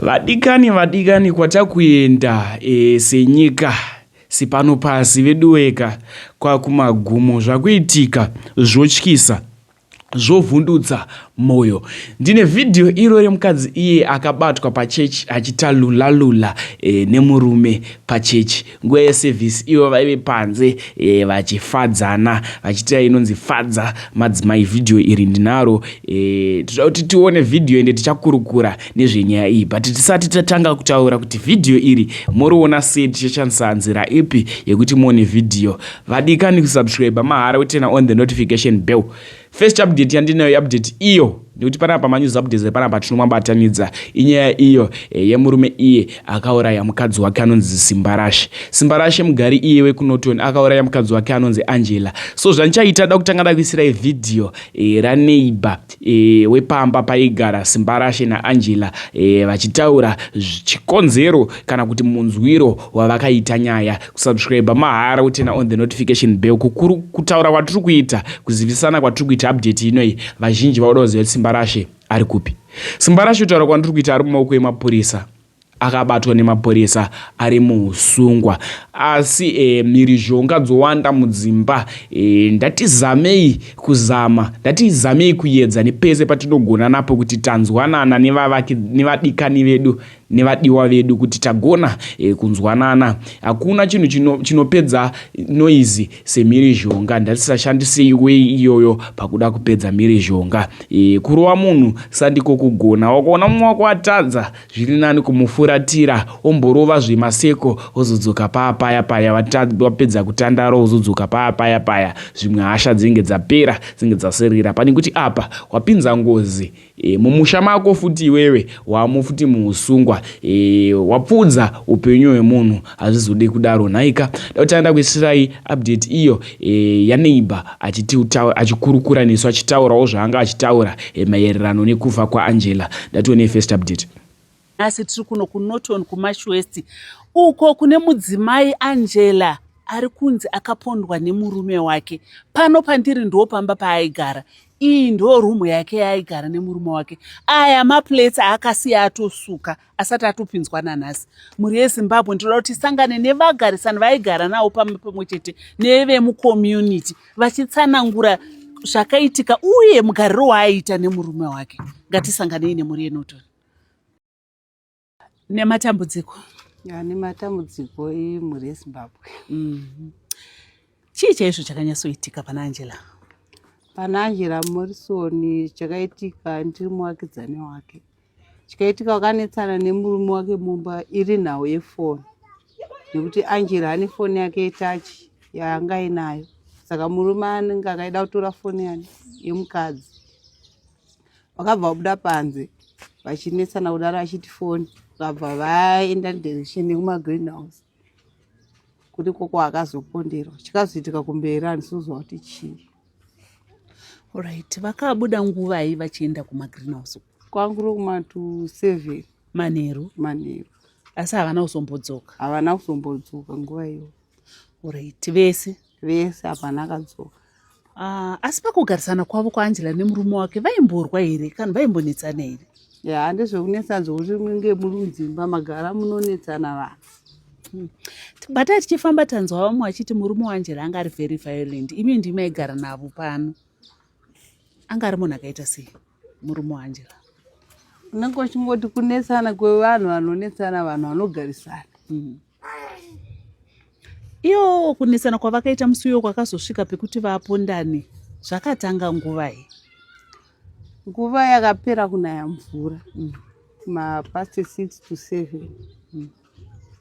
Vadikani vadikani kwatakuenda e, senyika sipano pasi veduweka kwakumagumo zvakuitika zvotyisa zvovhundutsa moyo ndine vhidhiyo iro remukadzi iye akabatwa pachechi achitalulalula e, nemurume pachechi nguva yesevhisi ivo vaive panze e, vachifadzana vachiitira inonzi fadza madzimai vhidhiyo iri ndinaro e, toda kuti tione vhidhiyo ende tichakurukura nezvenyaya iyi but tisati tatanga kutaura kuti vhidhiyo iri moriona sei tichashandisa nzira ipi yekuti muone vhidhiyo vadikani kusubscribe mahara wetena on the notification bell First update yandinayo iupdate iyo nekuti panapa manews updates epanapa tinomabatanidza inyaya iyo eh, yemurume iye akauraya mukadzi wake anonzi Simbarashe. Simbarashe mugari iye wekuNorton akauraya mukadzi wake anonzi Angela. So zvandichaita da kutanga dakuisirai video e, raneighbor e, wepamba paigara Simbarashe naAngela e, vachitaura chikonzero kana kuti munzwiro wavakaita nyaya. kusubscribe mahara utena on the notification bell kukuru kutaura kwatiri kuita kuzivisana kwatiri kuita update inoyi vazhinji vaoda kuziva kuti simba rashe ari kupi simba rashe kutaura kwandiri kuita ari mumaoko emapurisa akabatwa nemapurisa ari muusungwa asi e, mhirizhonga dzowanda mudzimba e, ndatizamei kuzama ndatizamei kuyedza nepese patinogona napo kuti tanzwanana nevadikani vedu nevadiwa vedu kuti tagona e, kunzwanana hakuna chinhu chino, chinopedza noizi semhirizhonga ndatisashandisei wei iyoyo pakuda kupedza mhirizhonga e, kurova munhu sandiko kugona wakaona mumwe wako atadza zviri nani kumufuratira omborova zvemaseko ozodzoka paya paya paya vapedza kutandara ozodzoka paya paya paya zvimwe hasha dzinenge dzapera dzinenge dzaserera pane kuti apa wapinza ngozi E, mumusha mako futi iwewe wamo futi muusungwa e, wapfuudza upenyu hwemunhu hazvizode kudaro nhaika dautanda kuisirai update iyo e, yaneighbor achikurukura nesu achitaurawo zvaanga achitaura e, maererano nekufa kwaangela ndatione first update nhasi tiri kuno kunorton kumash west uko kune mudzimai angela ari kunzi akapondwa nemurume wake pano pandiri ndo pamba paaigara iyi ndo rumu yake yaaigara nemurume wake aya maplates aakasiya atosuka asati atopinzwa nanhasi mhuri yezimbabwe ndinoda kuti isangane nevagarisani vaigara navo pamba pamwe chete nevemucommunity vachitsanangura zvakaitika uye mugariro waaiita nemurume wake ngatisanganei nemhuri yenotoni nematambudziko ya nematambudziko emhuri yezimbabwe mhm. chii chaizvo chakanyatsoitika pana angela pana angela morison chakaitika ndiri muvakidzani wake chikaitika wakanetsana nemurume wake mumba iri nhau yefoni nekuti angela ane foni yake yetachi yaanga ainayo saka murume anenge akaida kutora foni yani yemukadzi vakabva vabuda panze vachinetsana kudaro achiti foni vakabva vaenda direction yekumagreen house kuti koko akazoponderwa chikazoitika kumberi andisozwa kuti chii orit vakabuda nguvai vachienda kumagreen house kwanguro kuma to seven manheru manheru asi havana kuzombodzoka havana kuzombodzoka nguva iyo orit vese vese hapana akadzoka uh, asi pakugarisana kwavo kwaangela nemurume wake vaimborwa here kana vaimbonetsana here ya yeah, ndezvekunetsa dzokuti munge muri mudzimba magara munonetsana vanhu hmm. batai tichifamba tanzwa vamwe vachiti murume waangela anga ari very violent imi ndimi maigara navo pano anga ari munhu akaita sei murume waangela unenge uchingoti kunetsana kwevanhu vanonetsana vanhu vanogarisana hmm. iyo kunetsana kwavakaita musi uyo kwakazosvika pekuti vapondane zvakatanga nguvai nguva yakapera kunaya mvura hmm. mapast six to seven hmm.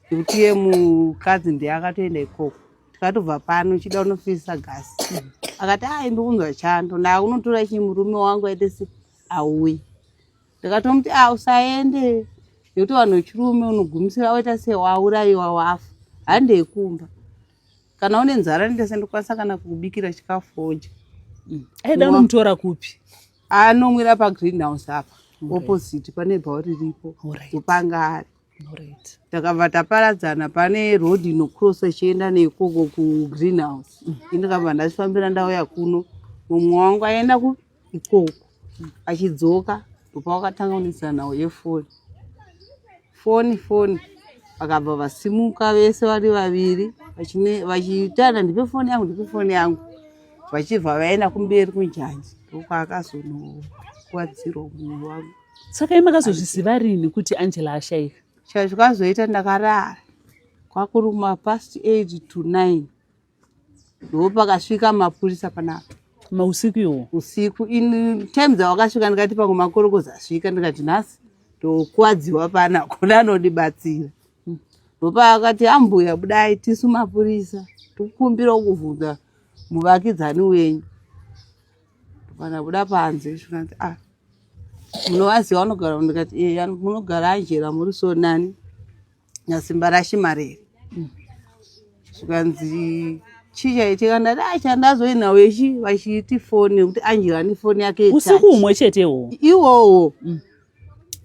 kuti ye mukadzi ndiye akatoenda ikoko tikatobva pano chida unofisa gasi akati a imbi kunzwa chando ndaakunotora chii murume wangu aite se auyi ndikatomuti a usaende nekuti vanhu vechirume unogumisira waita se waurayiwa wafa handei kumba kana une nzara ndese ndikwanisa kana kukubikira chikafu oja mm. aida unomutora kupi anomwira pagreen house apa opposite pane bhawa riripo kupanga ari takabva taparadzana pane road inocrossa ichienda neikoko kugreen house mm. ini ndikabva ndachifambira ndauya kuno mumwe wangu aenda kuikoko achidzoka ndopa wakatanga kunetsana nawo yefoni foni foni vakabva vasimuka vese vari vaviri vachitana ndipe foni yangu ndipe foni yangu vachibva vaenda kumberi kunjanji ndokwakazonokuvadzirwa munhu wangu saka i makazozviziva rini kuti angela ashaika chika zvikazoita ndakarara kwakuri kumapast eight to nine ndo pakasvika mapurisa panapa mausiku iwo usiku in time dzawakasvika ndikati pamwe makorokozi asvika ndikati nhasi ndokuwadziwa pana kune anondibatsira hmm. ndopaakati ambuya budai tisu mapurisa tikukumbira kuvhunza muvakidzani wenyu Kana buda panze zvikanzi ah munovaziva vanogara ndikati eya munogara ajera muri so nani nasimba rashimari here mm. zvikanzi chii chaitika ndati a chandazoinawo ichi vachiiti foni nekuti angela ane foni yake usiku umwe chetewo iwowo mm.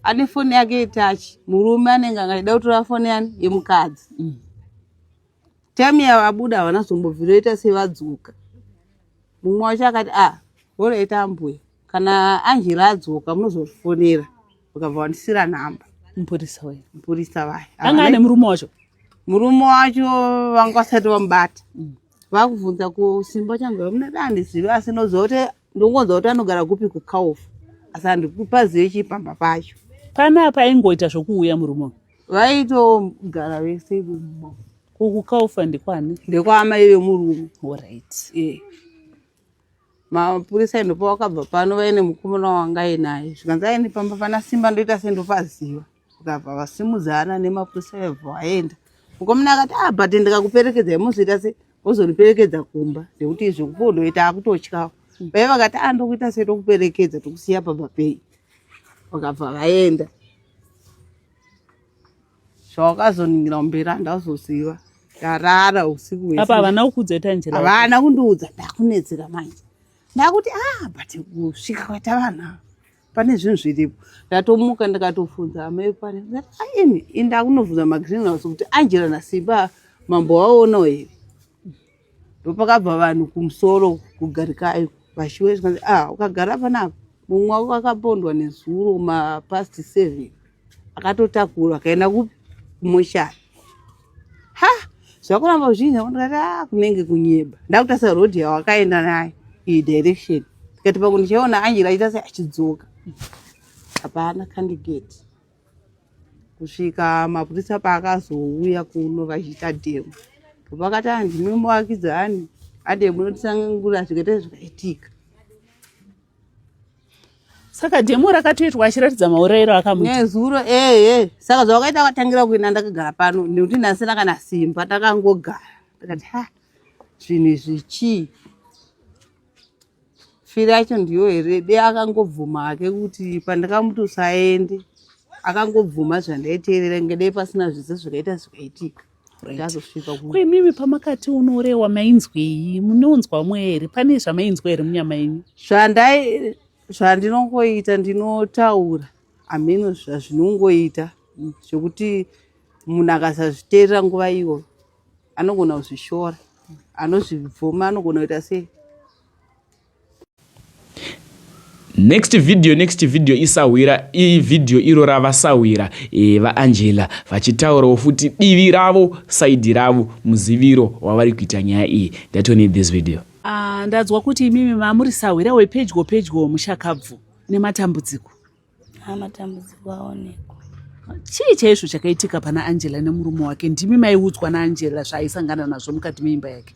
ane foni yake itachi murume anenge angaida kutora foni yani yemukadzi mm. Time yavabuda havana zombobvira oita sevadzoka. Mumwe wacho akati ah hora ita ambuya kana Angela adzoka munozofonera vakabva vandisira nhamba. Mupurisa wena. Mupurisa vaya. Anga ane murume wacho. Murume wacho vanga vasati vamubata. Mm. Vakubvunza kusimba changu vamuna dani zivi asi noziva kuti ndongonzwa kuti anogara kupi kukaofu asi handikupazive chipamba pacho. Panapa aingoita zvokuuya murume. vaitogara vese imomo uku kaufa ndikwani ndekwaamai vemurume orit e mapurisa ndopa wakabva pano vaine mukomana wanga ainaye zvikanzi aine pamba pana simba ndoita sendopaziva vakabva vasimudzana nemapurisa vebva vaenda mukomana akati a ah, but ndikakuperekedza imozoita se ozondiperekedza kumba nekuti izvi kupondoita akutotyawo vaive vakati a ah, ndokuita setokuperekedza tokusiya pamba pei vakabva vaenda zvawakazoningira kumberi handazoziva ndarara usiku hwese. Apa havana kukuudza ita njira. Havana kundiudza ndakunetseka manje. Ndakuti ah but kusvika kwaita vanhu ava pane zvinhu zviripo. Ndatomuka ndakatofunza amai pane. Aini inda kunovhunza magreen house kuti Angela naSimba mambo waonawo here. ndopakabva vanhu kumusoro kugarikayo vashiwe zvikanzi a ah, ukagara panapa mumwe wavo vakapondwa nezuro mapast seven akatotakura akaenda kupi kumoshari ha zvakuramba zvinhi ndikati a ah, kunenge kunyeba ndakutasa road yawakaenda nayo iyi direction tikati pakundichaiona anjira aita se achidzoka hapana candidate kusvika mapurisa paakazouya kuno vachiita demo pavakati ah, ndimi muvakidzani ademo notisangangura zvikaita zvakaitika saka demo rakatoitwa achiratidza maurayiro akamunezuro ehe saka zvavakaita akatangira kuenda ndakagara pano nekuti ndasina kana simba takangogara takati ha zvinhu izvi chii firi yacho ndiyo here de akangobvuma hake kuti pandakamuti usaende akangobvuma zvandaiteerera inge dei pasina zvese zvakaita zvakaitika imimi pamakati unorewa mainzwei munonzwa mwe here pane zvamainzwa here munyama yenyu zvandai zvandinongoita ndinotaura hameno zvazvinongoita zvekuti munhu akasazviteerera nguva iyoyo anogona kuzvishora anozvibvuma anogona kuita sei next video next video isahwira iyi video iro rava sahwira e, vaangela vachitaurawo futi divi ravo saidi ravo muziviro wavari kuita nyaya iyi ndatonei this video uh, ndanzwa kuti imimi mamuri sahwira wepedyo pedyo mushakabvu nematambudziko haa matambudziko aonekwa chii chaizvo chakaitika pana angela nemurume wake ndimi maiudzwa naangela zvaaisangana nazvo mukati meimba yake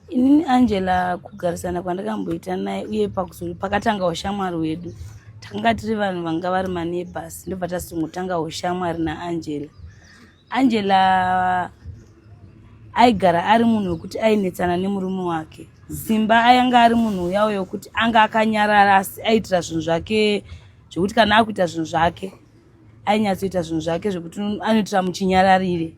inini angela kugarisana kwandakamboita naye uye pakuzori pakatanga ushamwari hwedu takanga tiri vanhu vanga vari manebhas ndobva tasingotanga ushamwari naangela angela aigara ari munhu wekuti ainetsana nemurume wake simba ayanga ari munhu uya uyo wekuti anga akanyarara asi aitira zvinhu zvake zvekuti kana akuita zvinhu zvake ainyatsoita zvinhu zvake zvekuti anoitira muchinyararire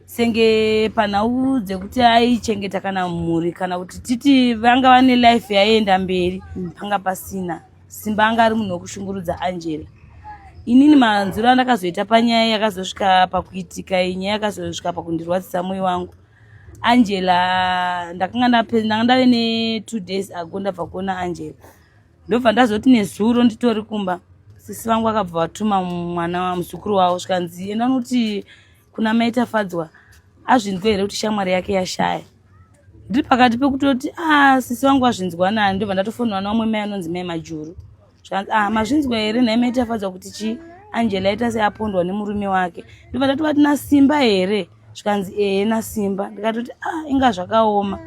senge panhau dzekuti aichengeta kana mhuri kana kuti titi vanga vane life yaienda mberi panga pasina Simba anga ari munhu wekushungurudza Angela. Inini manzwiro andakazoita panyaya yakazosvika pakuitika iyi nyaya yakazosvika pakundirwadzisa moyo wangu. Angela ndakanga ndanga ndave ne two days ago ndabva kuona Angela. Ndobva ndazoti nezuro nditori kumba sisi vangu vakabva vatuma mwana muzukuru wavo zvikanzi enda unoti kuna mai tafadzwa azvinzwa here kuti shamwari yake yashaya ndiri pakati pekutoti ah sisi vangu vazvinzwa nani ndobva ndatofonera naumwe mai anonzi mai majuru zvanzi ah mazvinzwa here nhai mai tafadzwa kuti chii angela aita seapondwa nemurume wake ndobva ndatova tina simba here zvikanzi ehe nasimba ndikatoti ah inga zvakaoma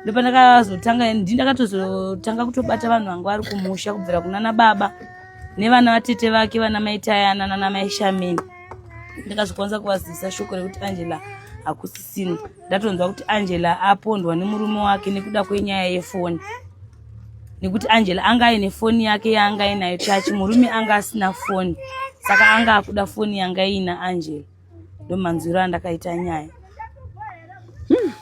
ndopa ndakazotanga ndi ndakatozotanga kutobata vanhu vangu vari kumusha kubvira kunana baba nevana vatete vake vana maitayana nana maishameni ndikazvikwanisa kuvazivisa shoko rekuti angela hakusisini ndatonzwa kuti angela apondwa nemurume wake nekuda kwenyaya yefoni nekuti angela anga aine foni yake yaanga ainayo chachi murume anga asina foni saka anga akuda foni yanga iina angela ndomanzwiro andakaita nyaya hmm.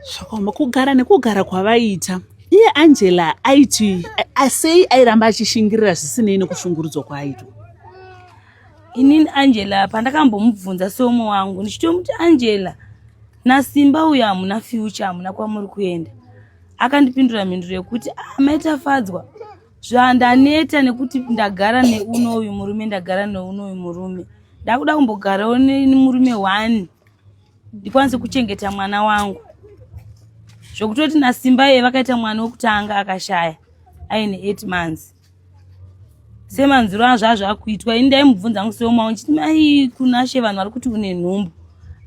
zvakaoma kugara nekugara kwavaiita iye angela aiti asei airamba achishingirira zvisinei nekushungurudzwa kwaaitwa inini angela pandakambomubvunza seumwe wangu ndichitomuti angela nasimba uyo hamuna fyucha hamuna kwamuri kuenda akandipindura mhinduro yekuti amaitafadzwa ah, zvandaneta nekuti ndagara neuno uyu murume ndagara neuno uyu murume ndakuda kumbogarawo nemurume one ndikwanise kuchengeta mwana wangu zvokutoti nasimba iye vakaita mwana wekutanga akashaya aine eight months semanziro azvo azvo akuitwa ini ndaimubvunza angu seomao ndichiti mai kunashe vanhu vari kuti une nhumbu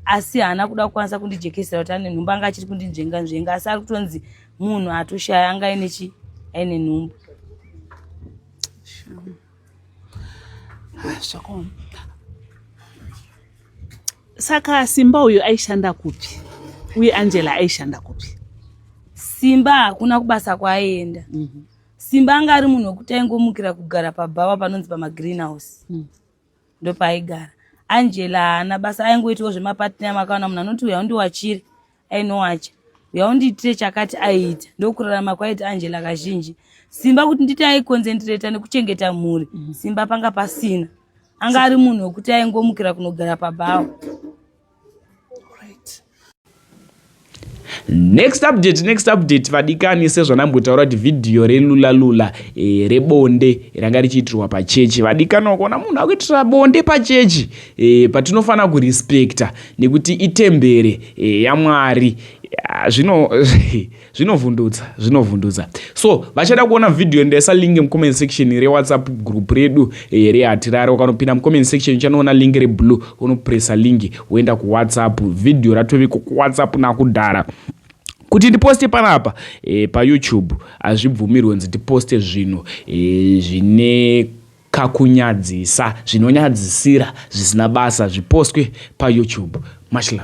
asi haana kuda kukwanisa kundijekesera kuti ane nhumbu anga achiri kundinzvenga nzvenga asi ari kutonzi munhu atoshaya anga aine chi aine nhumbu Zvakaoma. Saka Simba uyu aishanda kupi? Uye Angela aishanda kupi? Simba hakuna kubasa kwaaienda. Mm -hmm. Simba anga ari munhu wekuti aingomukira kugara pabhawa panonzi pamagreenhouse. Mm. Ndopaaigara. Angela haana basa aingoitawo zvemapartner makaona munhu anoti uya undiwachiri. ainowacha uya undiitire chakati aiita ndokurarama kwaita angela kazhinji simba kuti nditi aikonzendireta nekuchengeta mhuri mhm. simba panga pasina anga ari munhu wekuti aingomukira kunogara pabhawa next update next update vadikani sezvanambotaura kuti vhidhiyo relulalula e, eh, rebonde ranga richiitirwa pachechi vadikani wakuona munhu akuitira bonde pachechi e, eh, patinofanira kurespecta nekuti itembere eh, yamwari ah, zvino zvinovhundutsa zvinovhundutsa so vachada kuona vhidhiyo ndaisa link mucomment section rewhatsapp group redu eh, rehatirare ukanopinda mucomment section uchanoona link reblue unopresa link woenda kuwhatsapp vhidhiyo ratoviko kuwhatsapp nakudhara kuti ndiposte panapa e, payoutube hazvibvumirwe nzi ndiposte zvinhu e, zvine Kakunyadzisa zvinonyadzisira zvisina basa zvipostwe pa YouTube. Much love.